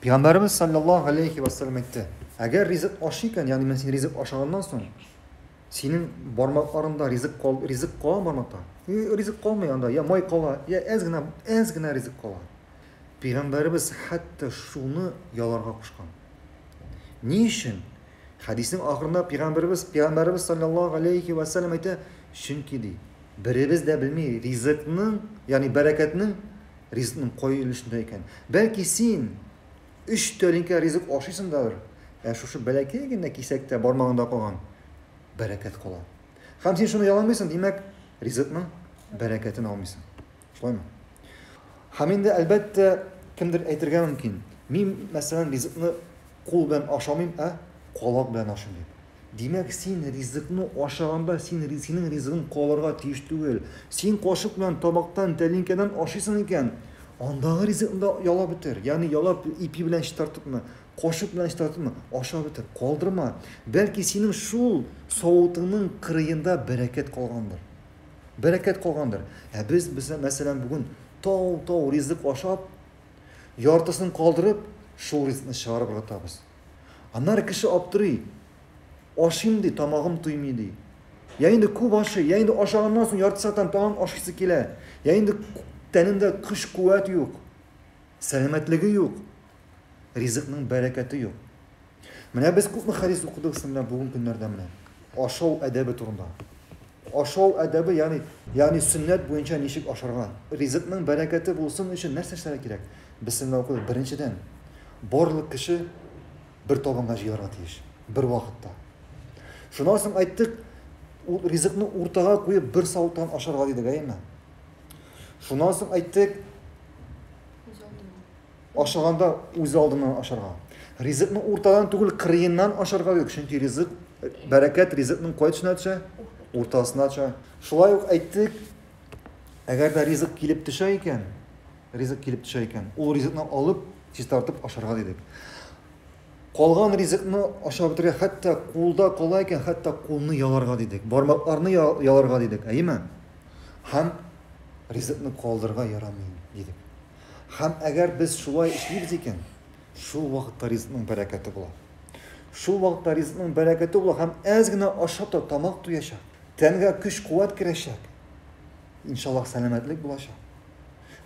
Пәйгамбәрбез саллаллаһу алейхи ва саллям әйтте, әгәр ризык аш икән, ягъни мин син ризык ашаганнан соң, синең бармакларында ризык кал, ризык кала бармакта. Ризык калмый анда, я май кала, я әз генә, әз генә ризык кала. Пәйгамбәрбез хәтта шуны яларга кушкан. Ни өчен? Хәдиснең ахырында пәйгамбәрбез, пәйгамбәрбез саллаллаһу алейхи ва саллям әйтә, чөнки ди, беребез дә белми ризыкның, ягъни бәрәкәтнең Ризыкның кай өлешендә икән? Бәлки син өч тәлинкә ризык ашыйсыңдадыр, ә шушы бәләкәй генә кисәктә бармагыңда калган бәрәкәт кала. Һәм син шуны яламыйсың, димәк, ризыкның бәрәкәтен алмыйсың. Шулаймы? Һәм инде, әлбәттә, кемдер әйтергә мөмкин, мин, мәсәлән, ризыкны кул белән ашамыйм, ә колак белән ашыйм дип. Димәк, син ризыкны ашаганда, син синең ризыгың калырга тиеш түгел. Син кашык белән табактан, тәлинкәдән ашыйсың икән, андагы ризыкны да ялап бетер. Ягъни ялап, ипи белән чистартыпмы, кашык белән чистартыпмы, ашап бетер, калдырма. Бәлки синең шул савытыңның кырыенда бәрәкәт калгандыр. Бәрәкәт калгандыр. Ә без, без мәсәлән, бүген тау-тау ризык ашап, яртысын калдырып, шул ризыкны чыгарып ыргытабыз. Аннары кеше аптырый, ашыйм ди, тамагым туймый ди. Я инде күп ашый, я инде ашаганнан соң ярты сәгатьтән тагын ашыйсы килә, я инде тәнендә көч-куәт юк, сәламәтлеге юк, ризыкның бәрәкәте юк. Менә без күпме хәдис укыдык сезнең белән бүген көннәрдә менә ашау әдәбе турында. Ашау әдәбе, ягъни, ягъни сөннәт буенча ничек ашарга? Ризыкның бәрәкәте булсын өчен нәрсә эшләргә кирәк? Бисмилла укыйбыз. Беренчедән, барлык кеше бер табынга җыярга тиеш, бервакытта. Шуннан соң айттык, ул ризыкны уртага куеп, бер савыттан ашарга дидек, әйеме? Шуннан соң айттык, Ашаганда үзалдыннан ашарга. Ризыкны уртадан түгел, кырыеннан ашарга юк, чөнки ризык, бәрәкәт ризыкның кай төшенә төшә? Уртасына төшә. Шулай ук әйттек, әгәр дә ризык килеп төшә икән, ризык килеп төшә икән, ул ризыкны алып, чистартып ашарга дидек. Калган ризыкны ашап бетерә, хәтта кулда кала икән, хәтта кулны яларга дидек, бармакларны яларга дидек, әйеме? Һәм ризыкны калдырырга ярамый дидек. Һәм әгәр без шулай эшлибез икән, шул вакытта ризыкның бәрәкәте була. Шул вакытта ризыкның бәрәкәте була һәм әз генә ашап та тамак туячак, тәнгә көч-куәт керәчәк. Иншаллаһ, сәламәтлек булачак.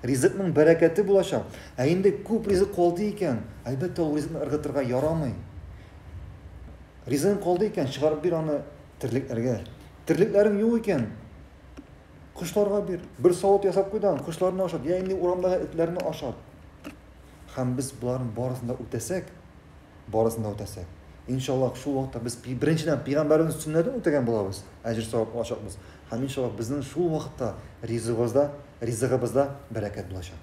Ризыкның бәрәкәте булачак. Ә инде күп ризык калды икән, әлбәттә, ул ризыкны ыргытырга ярамый. Ризыгың калды икән, чыгарып бир аны терлекләргә. Терлекләрең юк икән, Кошларга бир. Бер савыт ясап куй да, кошларны ашат, я инде урамдагы этләрне ашат. Һәм без боларның барысын да үтәсәк, барысын да үтәсәк, иншаллаһ, шул вакытта без беренчедән пәйгамбәребезнең сөннәтен үтәгән булабыз, әҗер-савап алачакбыз. Һәм иншаллаһ, безнең шул вакытта ризыгыбызда, ризыгыбызда бәрәкәт булачак.